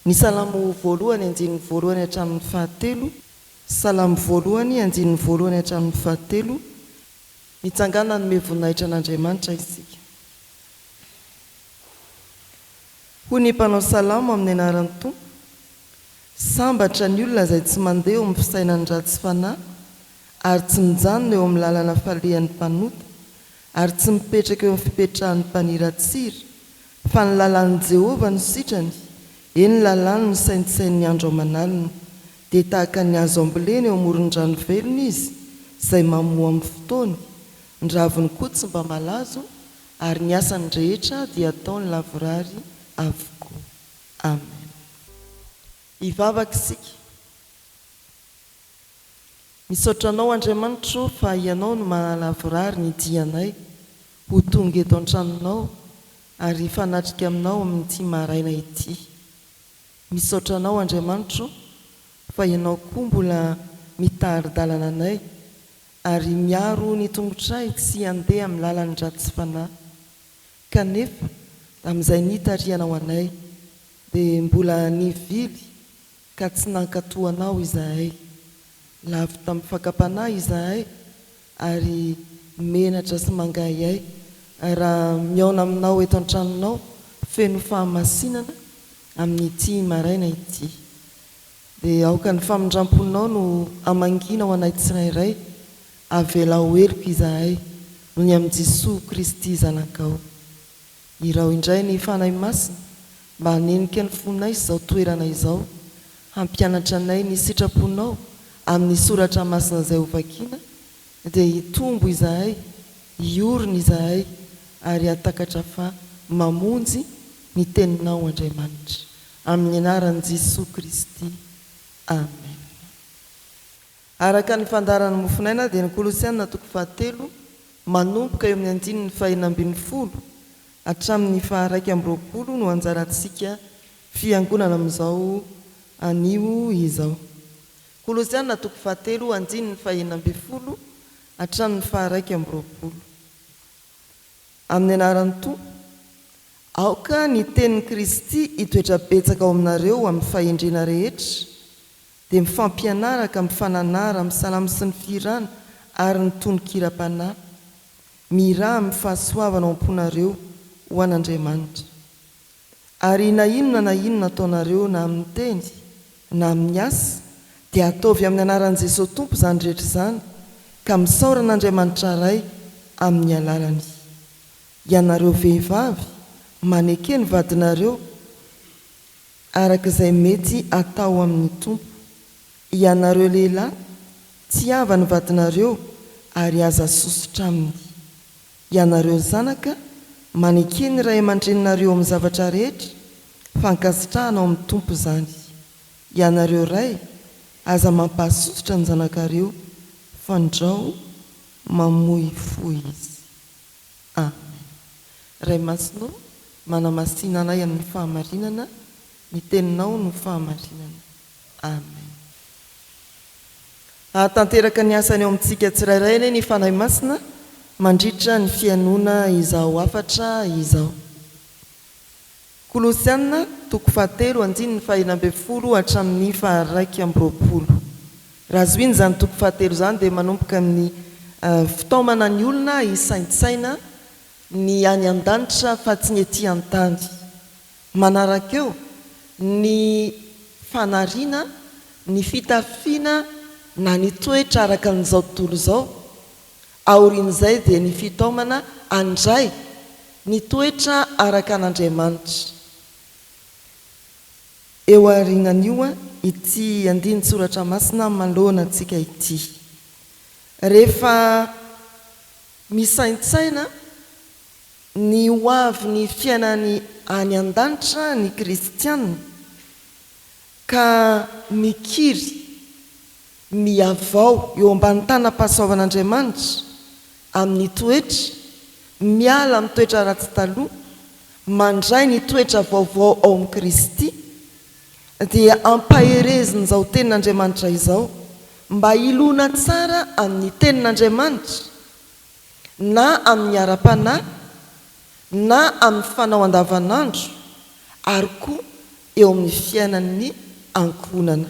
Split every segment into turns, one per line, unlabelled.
Ny Salamo voalohany andininy voalohany hatramin'ny fahatelo. Salamo voalohany andininy voalohany hatramin'ny fahatelo. Mitsangàna hanome voninahitra an'Andriamanitra isika. Hoy ny mpanao salamo amin'ny anaran'ny Tompo, Sambatra ny olona izay tsy mandeha eo amin'ny fisainan'ny ratsy fanahy ary tsy mijanona eo amin'ny lalana falehan'ny mpanota ary tsy mipetraka eo amin'ny fipetrahan'ny mpaniratsira, fa ny lalàn'i Jehovah no sitrany, eny, lalàny misaintsisain'ny andro aman'alina. Dia tahaka ny hazo ambolena eo amoron-drano velona izy, izay mamoa amin'ny fotoany. Ny raviny koa tsy mba malazo, ary ny asany rehetra dia ataony lavorary avokoa. Amen. Hivavaka isika. Misaotra Anao Andriamanitra o fa Ianao no mahalavorary ny dianay ho tonga eto an-tranonao ary hifanatrika aminao amin'ity maraina ity. Misaotra Anao Andriamanitra o fa Ianao koa mbola mitari-dalana anay ary miaro ny tongotray tsy handeha amin'ny lalan'ny ratsy fanahy. Kanefa, amin'izay nitarihanao anay, dia mbola nivily ka tsy nankatò anao izahay. Lavo tamin'ny fakam-panahy izahay, ary menatra sy mangahihay, raha mihaona aminao eto an-tranonao feno fahamasinana amin'ity maraina ity. Dia aoka ny famindram-ponao no hamangina ho anay tsirairay, Avelao ho heloka izahay noho ny amin'i Jesoa Kristy Zanakao. Iraho indray ny Fanahy Masina mba hanenika ny fonay sy izao toerana izao, hampianatra anay ny sitraponao amin'ny soratra masina izay hovakiana, dia hitombo izahay, hiorina izahay, ary hahatakatra fa mamonjy ny Teninao Andriamanitra. Amin'ny anaran'i Jesoa Kristy. Amen. Araka ny fandaharan'ny Mofonaina dia ny Kolosiana toko fahatelo manomboka eo amin'ny andininy fahenina ambin'ny folo hatramin'ny faharaika amby roapolo no anjarantsika fiangonana amin'izao anio izao. Kolosiana toko fahatelo andininy fahenina ambin'ny folo hatramin'ny faharaika amby roapolo. Amin'ny anaran'ny Tompo, aoka ny tenin'i Kristy hitoetra betsaka ao aminareo amin'ny fahendrena rehetra, dia mifampianaraka, mifananara, misalamo sy ny fihirana ary ny tononkiram-panahy. Mihirà amin'ny fahasoavana ao am-ponareo ho an'Andriamanitra. Ary na inona na inona ataonareo na amin'ny teny na amin'ny asa dia ataovy amin'ny anaran'i Jesosy Tompo izany rehetra izany ka misaora an'Andriamanitra Ray amin'ny alalany. Ianareo vehivavy, maneke ny vadinareo. Araka izay mety atao amin'ny Tompo. Ianareo lehilahy, tsiava ny vadinareo ary aza sosotra aminy. Ianareo zanaka, maneke ny ray aman-dreninareo amin'ny zavatra rehetra, fa ankasitrahana ao amin'ny Tompo izany. Ianareo ray, aza mampahasosotra ny zanakareo, fandrao mamoy fo izy. Aminy. Ray Masina ô, manamasina anay amin'ny fahamarinana, ny Teninao no fahamarinana. Amen. Hahatanteraka ny asany ao amintsika tsirairay anie ny Fanahy Masina mandritra ny fihainoana izao hafatra izao. Kolosiana toko fahatelo andininy fahena ambin'ny folo hatramin'ny faharaika amby roapolo. Raha zohina izany toko fahatelo izany dia manomboka amin'ny fitaomana ny olona hisaintsaina ny any an-danitra fa tsy ny ety an-tany. Manaraka eo ny fanariana, ny fitafiana na ny toetra araka an'izao tontolo izao Aorian'izay dia ny fitaomana handray ny toetra araka an'Andriamanitra. Eo aorianan'io ity andinin-tsoratra masina manoloana antsika ity. Rehefa misaintsaina ny hoavin'ny fiainany any an-danitra ny kristiana ka mikiry Mihavao eo ambany tanam-pahasoavan'Andriamanitra amin'ny toetra, miala amin'ny toetra ratsy taloha, mandray ny toetra vaovao ao amin'i Kristy, dia ampaherezin'izao tenin'Andriamanitra izao mba hiloana tsara amin'ny tenin'Andriamanitra na amin'ny ara-panahy na amin'ny fanao andavanandro ary koa eo amin'ny fiainan'ny ankohonana.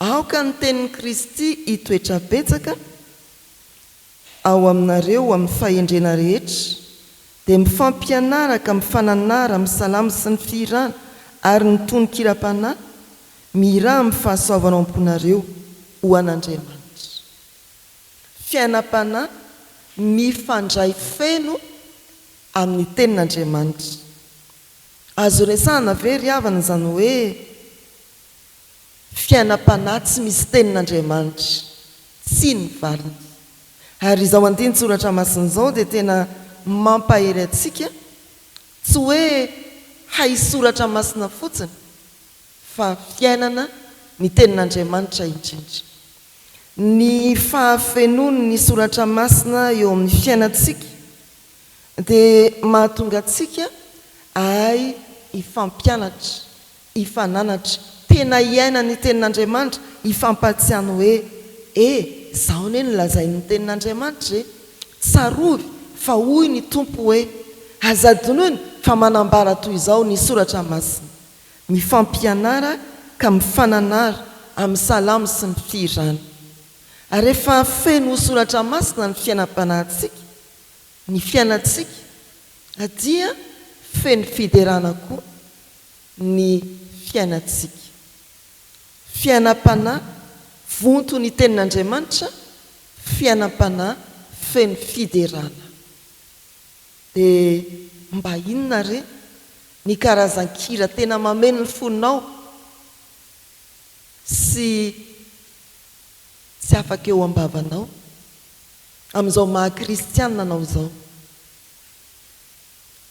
Aoka ny tenin'i Kristy hitoetra betsaka ao aminareo ho amin'ny fahendrena rehetra, dia mifampianaraka, mifananara, misalamo sy ny fihirana ary ny tononkiram-panahy, mihirà amin'ny fahasoavana ao am-ponareo ho an'Andriamanitra. Fiainam-panahy mifandray feno amin'ny Tenin'Andriamanitra. Azo resahana ve ry havana izany hoe. Fiainam-panahy tsy misy tenin'Andriamanitra, tsy ny valiny. Ary izao andinin-tsoratra masina izao dia tena mampahery antsika, tsy hoe hay soratra masina fotsiny, fa fiainana ny tenin'Andriamanitra indrindra. Ny fahafenoan'ny soratra masina eo amin'ny fiainantsika dia mahatonga antsika hahay hifampianatra Hifananatra. Tena hiaina ny Tenin'Andriamanitra, hifampahatsiahy ny hoe, E, izao anie no lazain'ny Tenin'Andriamanitra e! Tsarovy fa hoy ny Tompo hoe, Aza adinoina fa manambara toy izao ny Soratra Masina. Mifampianara ka mifananara amin'ny salamo sy ny fihirana. Ary rehefa feno ho Soratra Masina ny fiainam-panahintsika, ny fiainantsika dia feno fiderana koa. ny fiainantsika. Fiainam-panahy vonto ny Tenin'Andriamanitra, fiainam-panahy feno fiderana. Dia mba inona re ny karazan-kira tena mameno ny fonao sy tsy afaka eo am-bavanao amin'izao maha kristiana anao izao?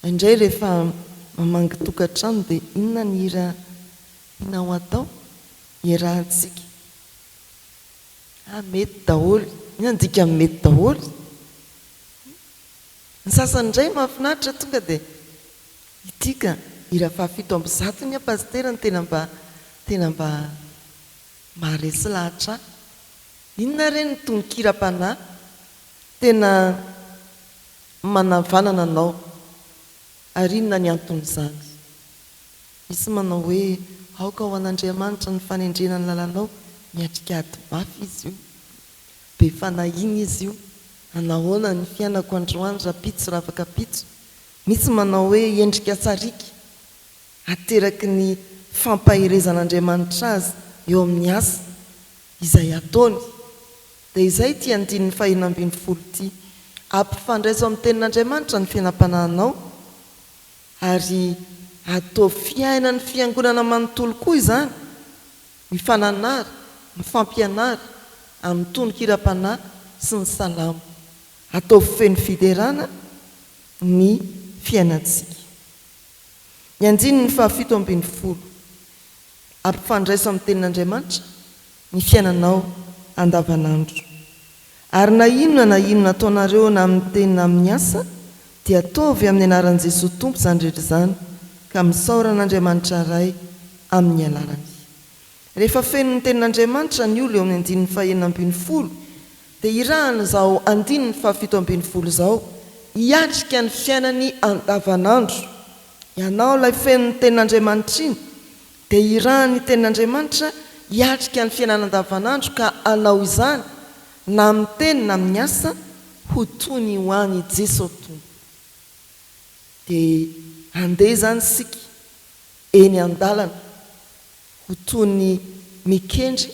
Indray rehefa mamangy tokantrano dia inona ny hira tianao hatao? Iarahantsika. Ah mety daholo. Inona ny dikan'ny mety daholo? Ny sasany indray mahafinaritra tonga dia ity ka, hira fahafito amby zato ny ahy Pasitera no tena mba tena mba maharesy lahatra ahy. Inona re ny tononkiram-panahy tena Manavanana anao, ary inona ny anton'izany? Misy manao hoe, Aoka ho an'Andriamanitra ny fanendrena ny lalanao, miatrika ady mafy Izy io. Be fanahiana Izy io. Anahoana ny fiainako androany rapitso ravaka pitso? Misy manao hoe, Endrika sariaka, ateraky ny fampaherezan'Andriamanitra azy eo amin'ny asa izay ataony. Dia izay ity andininy faheno ambin'ny folo ity. Ampifandraiso amin'ny Tenin'Andriamanitra ny fiainam-panahinao, ary ataovy fiainan'ny Fiangonana manontolo koa izany. Mifananara, mifampianara amin'ny tononkiram-panahy sy ny salamo. Ataovy feno fiderana ny fiainantsika. Ny andininy fahafito ambin'ny folo. Ampifandraiso amin'ny Tenin'Andriamanitra ny fiainanao andavanandro. Ary na inona na inona ataonareo na amin'ny teny na amin'ny asa dia ataovy amin'ny anaran'i Jesoa Tompo izany rehetra izany ka misaora an'Andriamanitra Ray amin'ny alalany. Rehefa feno ny tenin'Andriamanitra ny olo eo amin'ny andininy fahenina ambin'ny folo dia irahan'izao andininy fahafito ambin'ny folo izao hiatrika ny fiainany andavanandro. Ianao ilay feno ny tenin'Andriamanitra iny Dia irahan' ny Tenin' Andriamanitra hiatrika ny fiainana andavanandro ka hanao izany na amin' ny teny na amin' ny asa ho toy ny ho an' i Jeso Tompo. Dia handeha izany isika eny an-dalana ho toy ny mikendry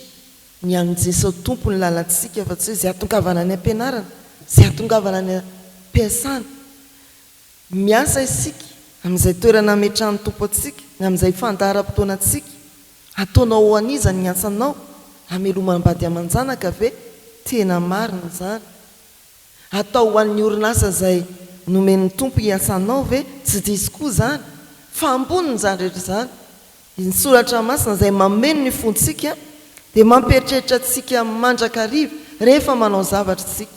ny an' i Jeso Tompo ny lalantsika fa tsy hoe izay atongavana any am-pianarana, izay atongavana any am-piasana, Miasa isika amin'izay toerana ametrahan'ny Tompo antsika, ny amin'izay fandaharam-potoana antsika. Ataonao ho an'iza ny asanao? Hamelomam-bady aman-janaka ve? Tena marina izany. Atao ho an'ny orinasa izay nomen'ny Tompo hiasanao ve? Tsy diso koa izany. Fa ambonin'izany rehetra izany, ny Soratra Masina izay mameno ny fontsika dia mampieritreritra antsika mandrakariva rehefa manao zavatra isika.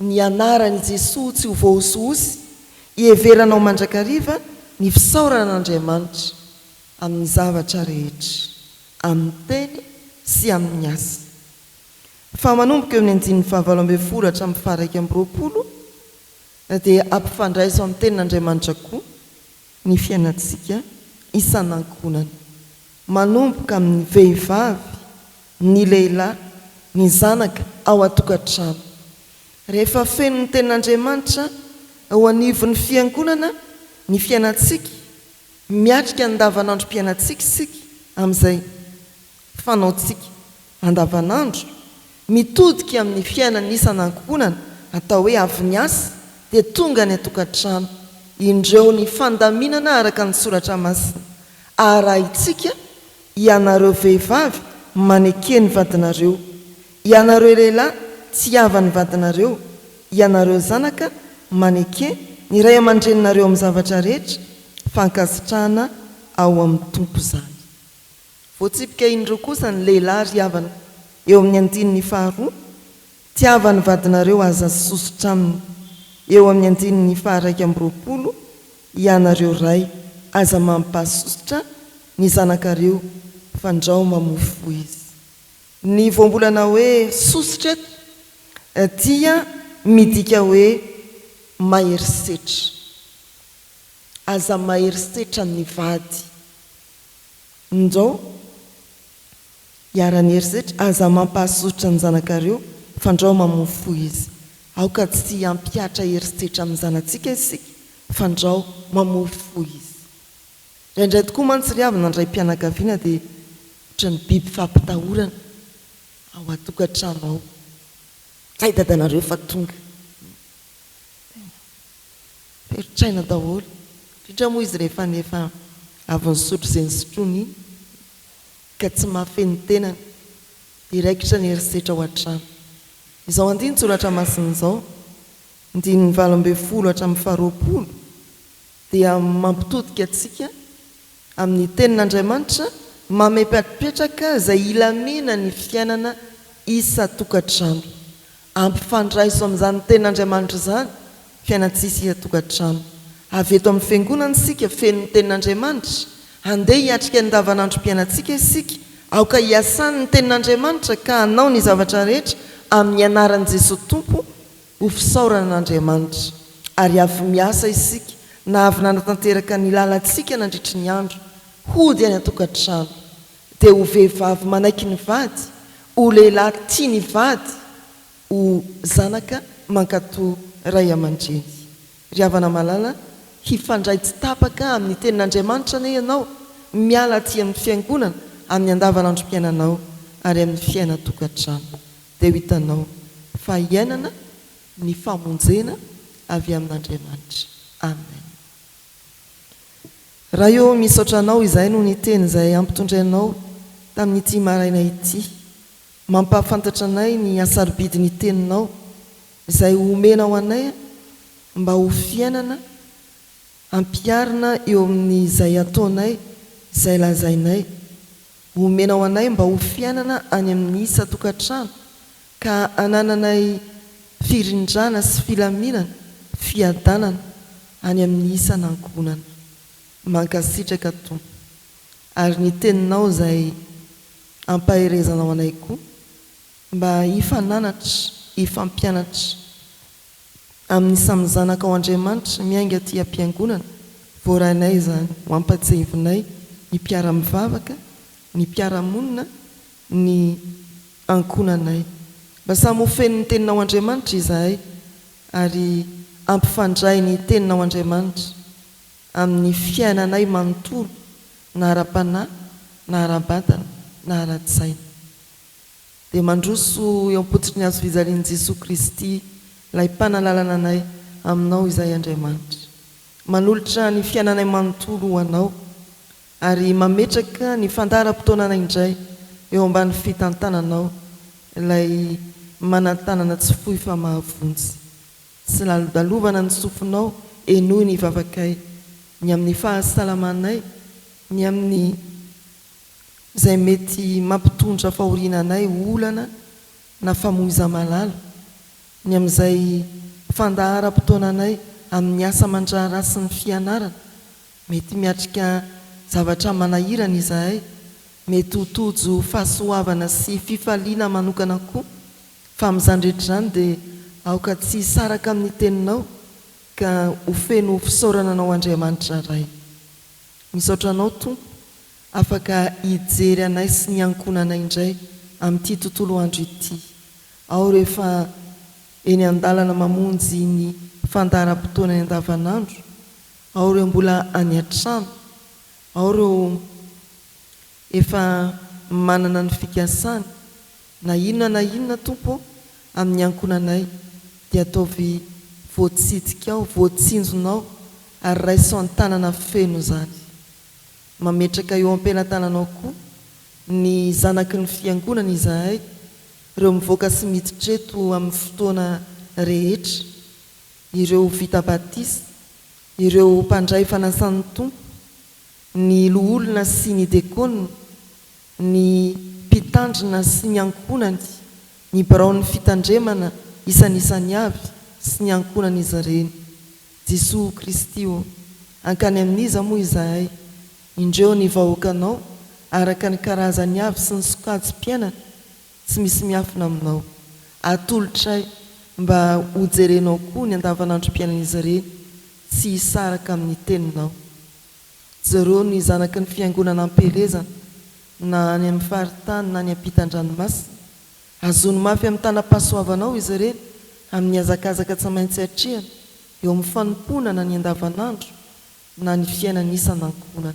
Ny anaran'i Jesoa tsy ho voahosihosy iheveranao mandrakariva ny fisaoran'Andriamanitra amin'ny zavatra rehetra, amin'ny teny sy amin'ny asa. Fa manomboka eo amin'ny andininy fahavalo ambin'ny folo hatramin'ny faharaika amby roapolo dia ampifandraiso amin'ny tenin'Andriamanitra koa ny fiainantsika isan'ankohonana, manomboka amin'ny vehivavy, ny lehilahy, ny zanaka ao an-tokantrano. Rehefa feno ny Tenin'Andriamanitra eo anivon'ny Fiangonana ny fiainantsika, miatrika ny andavanandrom-piainantsika isika amin'izay fanaontsika andavanandro, mitodika amin'ny fiainan'ny isan'ankohonana, atao hoe avy niasa dia tonga any an-tokantrano, indreo ny fandaminana araka ny Soratra Masina arahintsika Ianareo vehivavy maneke ny vadinareo, ianareo lehilahy tsy havan'ny vadinareo, ianareo zanaka maneke ny ray aman-dreninareo amin'ny zavatra rehetra, fankasitrahana ao amin'ny Tompo izany. Voatsipika indroa kosa ny lehilahy ry havana eo amin'ny andininy faharoa, Tiavan'ny vadinareo aza sy sosotra aminy, eo amin'ny andininy faha-raika amby roapolo, Ianareo ray, aza mampasosotra ny zanakareo fandrao mamofy fo izy. Ny voambolana hoe sosotra eto dia midika hoe mahery setra. Aza mahery setra ny vady. Ndrao. Iharan'ny herisetra, aza mampahasosotra ny zanakareo, fandrao mamoa fo izy. Aoka tsy hampihatra herisetra amin'ny zanatsika isika, fandrao mamoa fo izy. Indraindray tokoa mantsy ry havana ny raim-pianakaviana dia ohatran'ny biby fampitahorana ao an-tokantrano ao. Zay dadanareo efa tonga. Tena mpieritr'aina daholo, indrindra moa izy rehefa ny efa avy nisotro izay nisotroany iny. ka tsy mahafehy ny tenany dia raikitra ny herisetra ao an-trano. Izao andinin-tsoratra masina izao, andininy valo ambin'ny folo hatramin'ny faharoapolo, dia mampitodika antsika amin'ny Tenin'Andriamanitra mamepatpetraka izay ilamenan'ny fiainana isan-tokantrano. Ampifandraiso amin'izany Tenin'Andriamanitra izany fiainantsisa ian-tokantrano. Avy eto amin'ny Fiangonana isika feno ny Tenin'Andriamanitra. Handeha hiatrika ny andavanandrom-piainantsika isika. Aoka hiasany ny Tenin'Andriamanitra ka hanao ny zavatra rehetra amin'ny anaran'i Jesoa Tompo ho fisaorana an'Andriamanitra. Ary avy miasa isika na avy nanatanteraka ny lalantsika nandritry ny andro. Hody any an-tokantrano. dia ho vehivavy manaiky ny vady, ho lehilahy tia ny vady, ho zanaka mankato ray aman-dreny. Ry havana malala, hifandray tsy tapaka amin'ny Tenin'Andriamanitra anie ianao, miala aty amin'ny fiangonana, amin'ny andavanandrom-piainanao ary amin'ny fiainan-tokantrano, dia ho hitanao fa iainana ny famonjena avy amin'Andriamanitra. Amen. Ray ô, misaotra Anao izahay noho ny Teny izay ampitondray Anao tamin'ity maraina ity. Mampahafantatra anay ny hasarobidy ny Teninao izay ho omenao anay mba ho fiainana ampiharina eo amin'izay ataonay, izay lazainay. Ho omenao anay mba ho fiainana any amin'ny isan-tokantrano ka anananay firindrana sy filaminana, fiadanana any amin'ny isan'ankohonana. Mankasitraka Tompo ary ny teninao izay ampaherezanao anay koa mba hifananatra, hifampianatra amin'ny samy zanakao Andriamanitra miainga aty am-piangonana voarainay izany, ho ampahatsiahivinay ny mpiara-mivavaka, ny mpiara-monina ny ankohonanay. Mba samy ho feno ny Teninao Andriamanitra izahay ary ampifandray ny Teninao Andriamanitra amin'ny fiainanay manontolo na ara-panahy na ara-batana na ara-tsaina. Dia mandroso eo am-pototry ny Hazo fijalian'i Jesoa Kristy ilay Mpanalalana anay Aminao izahay Andriamanitra. Manolotra ny fiainanay manontolo ho Anao Ary mametraka ny fandaharam-potoanana indray eo ambany fitantananao ilay manan-tanana tsy fohy fa mahavonjy. Tsy lalodalovana ny sofinao, henoy ny vavakay, ny amin'ny fahasalamanay, ny amin'ny izay mety mampitondra fahoriana anay, olana na famoizam-alala, ny amin'izay fandaharam-potoananay amin'ny asa aman-draharaha sy ny fianarana, Mety miatrika zavatra manahirana izahay. Mety ho tojo fahasoavana sy fifaliana manokana koa. Fa amin'izany rehetra izany dia aoka tsy hisaraka amin'ny Teninao ka ho feno fisaorana Anao Andriamanitra Ray. Misaotra Anao Tompo afaka hijery anay sy ny ankohonanay indray amin'ity tontolo andro ity aho rehefa eny an-dalana mamonjy ny fandaharam-potoanany andavanandro. Ao ireo mbola any an-trano, ao ireo efa manana ny fikasany, na inona na inona Tompo ô, amin'ny ankonanay, dia ataovy voatsidikao, voatsinjonao, ary raiso an-tanana feno izany. Mametraka eo am-pelatananao koa ny zanaky ny Fiangonana izahay, ireo mivoaka sy miditra eto amin'ny fotoana rehetra, ireo vita batisa, ireo mpandray fanasan'ny Tompo, ny loholona sy ny dekona, ny mpitandrina sy ny ankohonany, ny biraon'ny fitandremana isanisany avy sy ny ankohonan'izy ireny. Jesoa Kristy ô, hankany amin'iza moa izahay? Indreo ny vahoakanao araka ny karazany avy sy ny sokajim-piainany. Tsy misy miafina aminao. Atolotray mba hojerenao koa ny andavanandrom-piainan'izy ireny tsy hisaraka amin'ny teninao. Jereo ny zanaky ny fiangonana am-pielezana, na any amin'ny faritany na any ampitan-dranomasina. Hazono mafy amin'ny tanam-pahasoavanao izy ireny amin'ny hazakazaka tsy maintsy atrehany eo amin'ny fanompoana na ny andavanandro na ny fiainana isan-ankohonana.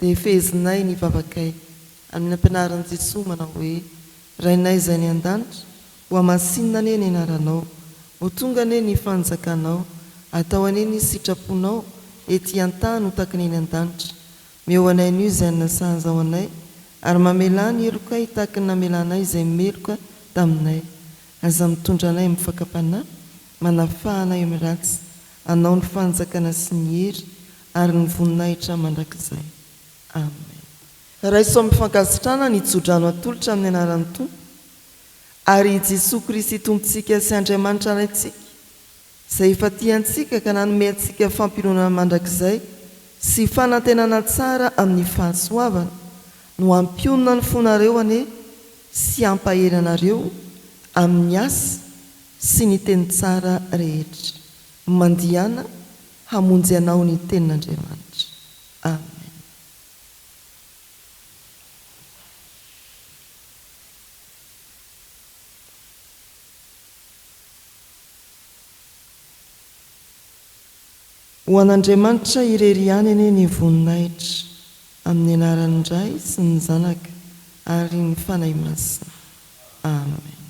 Dia fehezinay ny vavakay amin'ny ampianarin'i Jesoa manao hoe, Rainay izay any an-danitra, hohamasinina anie ny anaranao, ho tonga anie ny fanjakanao, atao anie ny sitraponao ety an-tany ho takany eny an-danitra. Meo anay anio izay ninasahanzao anay, ary mamelà ny helokay hitaky ny namelanay izay meloka taminay. Aza mitondra anay amin'ny fakam-panahy, manafaha anay amin'ny ratsy, Anao ny fanjakana sy ny hery ary ny voninahitra mandrakizay. Amen. Raiso amin'ny fankasitrahana ny tsodrano atolotra amin'ny anaran'ny Tompo ary i Jesoa Kristy Tompontsika sy Andriamanitra Raintsika izay efa tia antsika ka nanome antsika fampiononana mandrakizay sy fanantenana tsara amin'ny fahasoavana no hampionona ny fonareo anie sy hampahery anareo amin'ny asa sy ny teny tsara rehetra. Mandiana hamonjy anao ny Tenin'Andriamanitra. Amen. Ho an'Andriamanitra irery ihany anie ny voninahitra, amin'ny anaran'ny Ray sy ny Zanaka ary ny Fanahy Masina. Amen.